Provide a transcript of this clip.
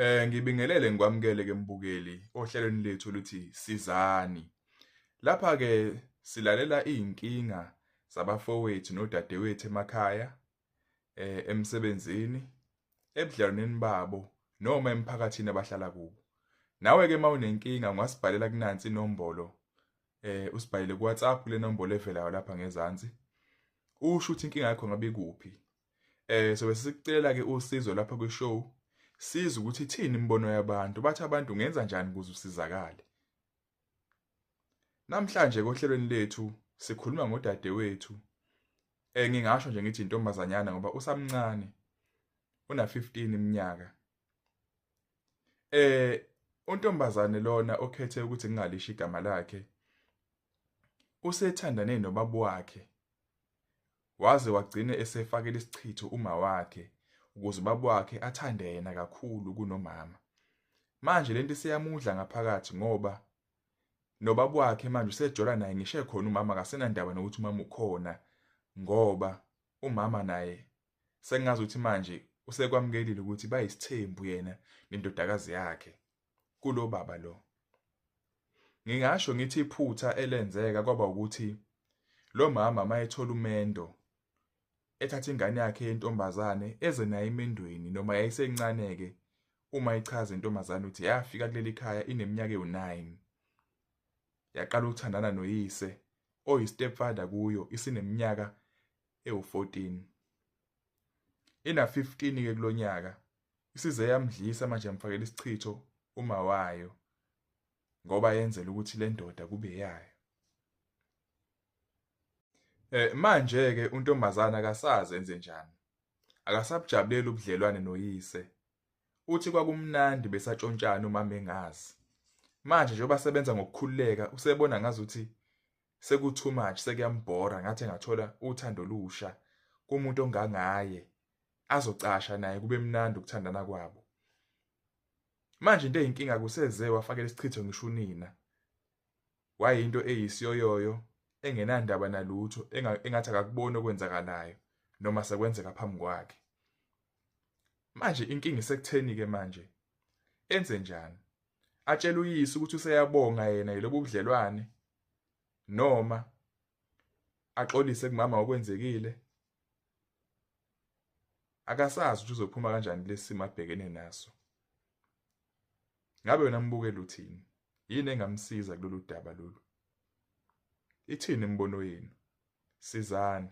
Eh ngibingelele ngikwamukele ke mbukeli ohlelweni lethu luthi sizani. Lapha ke silalela izinkinga zabafowethu nodadewethu emakhaya eh emsebenzini ebudlalwaneni babo noma emphakathini abahlala kubo. Nawe ke mawunenkinga ungasibhalela kunansi inombolo eh usibhalele kuWhatsApp kule nombolo evelayo lapha ngezansi. Usho ukuthi inkinga yakho ngabe ikuphi Eh so besicela ke usizo lapha kwi show siza ukuthi ithini imibono yabantu bathi abantu ngenza njani ukuze usizakale Namhlanje kohlelweni lethu sikhuluma ngodadewethu eh ngingasho nje ngithi intombazanyana ngoba usamncane una 15 iminyaka eh untombazane lona okhethe ukuthi ngingalishi igama lakhe usethandane nobaba wakhe Waze wagcine esefakela isichitho uma wakhe ukuze ubaba wakhe athande yena kakhulu kunomama. Manje lento iseyamudla ngaphakathi ngoba nobaba wakhe manje usejola naye ngisho ekhona umama akasenandaba nokuthi umama ukhona ngoba umama naye sengazi ukuthi manje usekwamukelile ukuthi bayisithembu yena nendodakazi yakhe. kulo baba lo ngingasho ngithi iphutha elenzeka kwaba ukuthi lo mama mayethola umendo ethatha ingane yakhe yentombazane eze naye emendweni noma yayisencane-ke uma ichaza intombazane ukuthi yafika kuleli khaya ineminyaka ewu-9 yaqala ukuthandana noyise oyistepfather kuyo isineminyaka ewu-14 ina-15-ke kulo nyaka isize yamdlisa manje yamfakela isichitho uma wayo ngoba yenzela ukuthi le ndoda kube yayo eh manje ke untombazana akasazi enze njani akasabujabuleli ubudlelwane noyise uthi kwakumnandi besatshontshana uma mengazi manje njengoba sebenza ngokukhululeka usebona ngazuthi seku too much sekuyambhora ngathi engathola uthando lusha kumuntu ongangaye azocasha naye kube mnandi ukuthandana kwabo manje into eyinkinga kuseze wafakela isichitho ngisho unina wayinto eyisiyoyoyo engenandaba nalutho engathi akakuboni okwenzakalayo noma sekwenzeka phambi kwakhe manje inkinga isekutheni-ke manje enze njani atshele uyise ukuthi useyabonga yena yilobu budlelwane noma axolise kumama okwenzekile akasazi ukuthi uzophuma kanjani lesimo abhekene naso ngabe wena mbukela uthini yini engamsiza kulolu daba lolu ithini imibono yenu sizani